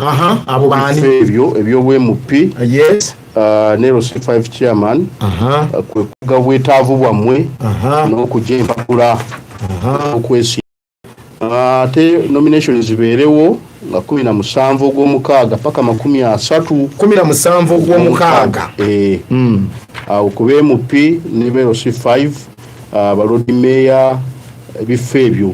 aha abo baani ebyo ebyobwmp yes uh, ne c5 chairman aha uh, kwe kuga bwetaavu bwammwe n'okugya empapula okwesi uh, ate nomination zibeerewo nga kumi na musanvu ogwomukaaga paka makumi asatu kumi na musanvu ogwomukaaga eh. hmm. awo ku bmp ne brc 5 balodi meeya ebifo ebyo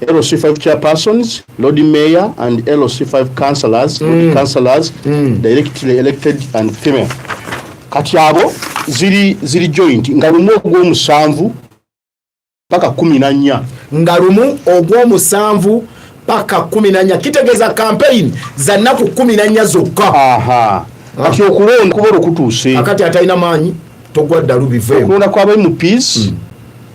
LC5 chairpersons, Lord Mayor and LC5 councillors, mm. councillors mm. directly elected and female. Kati abo ziri ziri joint nga lumu ogw'omusanvu paka kumi na nnya nga lumu ogw'omusanvu paka kumi na nnya kitegeeza campaign za nnaku kumi na nnya zokka kati okulonda kuba olukutuuse akati atalina maanyi togwa ddalu biveekulonda kwaba mps mm.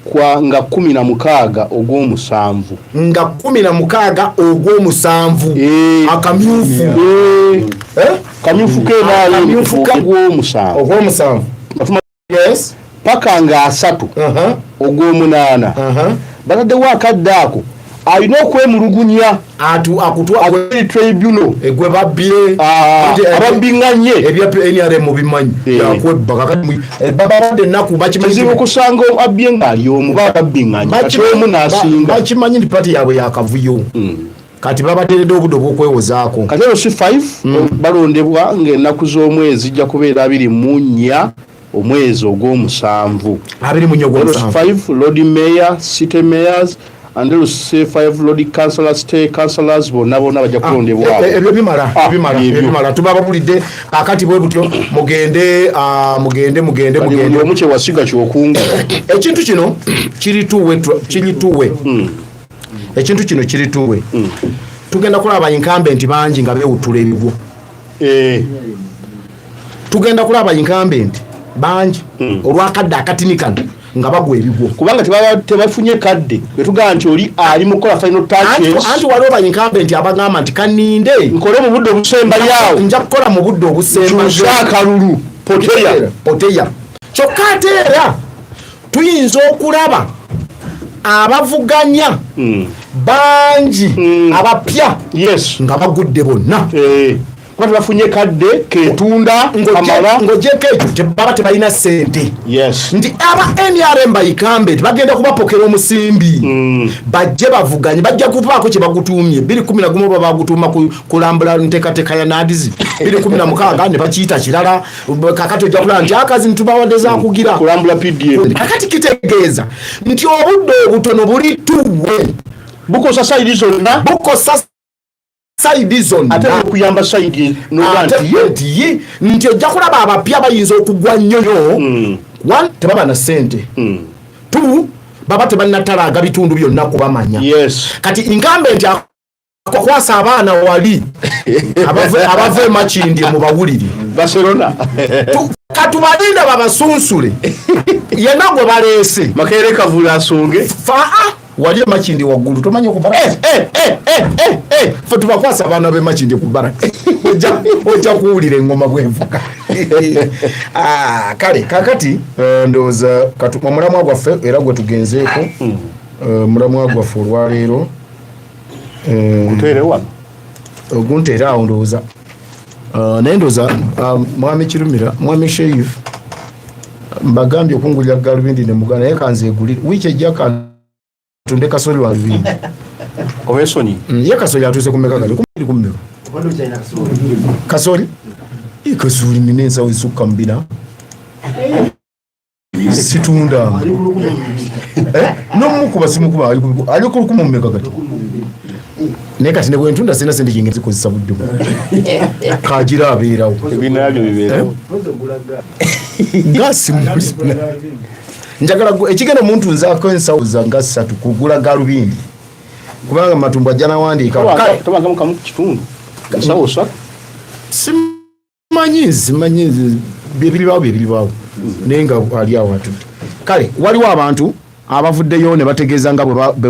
Kwa nga kumi na mukaaga ogw'omusanvu. Nga kumi na mukaaga ogw'omusanvu. Eee. Eh. Akamyufu. Eee. Eh. Eee. Eh? Kamyufu ke naali. Akamyufu ka. Ogw'omusanvu. Ogw'omusanvu. Batuma. Yes. Paka nga asatu. Uh -huh. Ogw'omunaana. Uh -huh. Batadewa akadde ako. alina okwemulugunya akutwatribunal egwe babbye ah, eh, ababbinganye ebya nrm bimanyi eh. yakwebba kakati eh, bababadde ennaku bakimanyizibu kusanga abbye ng'ali omu bababbinganye kati omu n'asinga bakimanyi nti pati yaabwe yakavuyo hmm. kati babateredde obudde obwokwewozaako kati eno si 5 hmm. balondebwa ng'ennaku z'omwezi zijja kubeera abiri mu nnya omwezi ogwomusanvu abiri munyogomusanvu lord mayor city mayors and then say five lord councillors stay councillors bonna bonna bajja ah, kulondebwa eh, eh, ebyo bimala ah, bimala bimala tuba babulidde akati bwe butyo mugende ah, mugende mugende mugende omu kye wasiga kyokunga ekintu kino kiri tuwe kiri tuwe hmm. ekintu kino kiri tuwe hmm. tugenda kulaba incumbent bangi nga bewutula ebigwo eh. tugenda kulaba incumbent bangi hmm. olwakadde akatini kano nga bagwa ebigwo kubanga tebafunye kadde wetugamba nti oli ali mukola final touchesanti waliwo ba incumbent abagamba nti kaninde nkole mu budde obusembayawo nja kukola mu budde obusembakalulu poteya kyokka ate era tuyinza okulaba abavuganya hmm. bangi hmm. abapya nga bagudde bonna eh. kuba tebafunye kadde ketunda amala ngojeko ekyo tebaba tebalina sente nti aba nrm bayikambe tibagenda kubapokera omusimbi mm. bajje bavuganye bajja kuvaako kyebagutuumye biri kumi nagumu oba bagutuuma kulambula nteekateeka ya nadizi biri kumi namukaaga ne bakiyita kirala kakati ojja kulaba nti akazi nitubawade zakugira kulambula pdf kakati kitegeeza nti obudde obutono buli tuwe bukosa saidi zonna bukosa saidi zonna ate okuyamba saidi nti nti ojja kulaba abapya bayinza okugwa nnyoyo hmm. one tebaba na sente hmm. two baba tebanatalaga bitundu byonna kubamanya kati inkambe nti kukwasa abaana wali abava emakindye mu bawulire barcelona katubalinda babasunsule yena gwe baleese makere kavula asonge faa wali emakindi waggulu tomanyi okubara eh, eh, eh, fe tubakwasa abaana bemakindi kubara ojja kuwulira engoma bwenvuka ah, kale kakati ndowooza omulamwa gwaffe era gwetugenzeeko hmm. omulamwa gwaffe olwaleero gutere wano ogunteera awo ndowooza uh, naye ndowooza um, mwami kirumira mwami sheif mbagambye okungulira galubindi ne muganda naye kanzeegulire wiiki ejja kantunde kasoli wa lubindi owesonyi mm, ye kasoli atuuse kumeka kati kumiri kummiro kasoli kasoli nina ensawo esukka mubina situndanga eh? nomukuba simukuba ali kulukuma mumeka kati naye kati nebwentunda sirina sente jinga zikozesa budde kagira abeerawo eh? gasimu njagala ekigenda omuntu nze ako ensawo zanga satu kugula galubindi kubanga matumbu ajja nawandiika manyi nzi manyi nzi byebilibawo byebilibawo naye nga ali awo atudde kale waliwo abantu abavuddeyo ne bategeeza nga bwe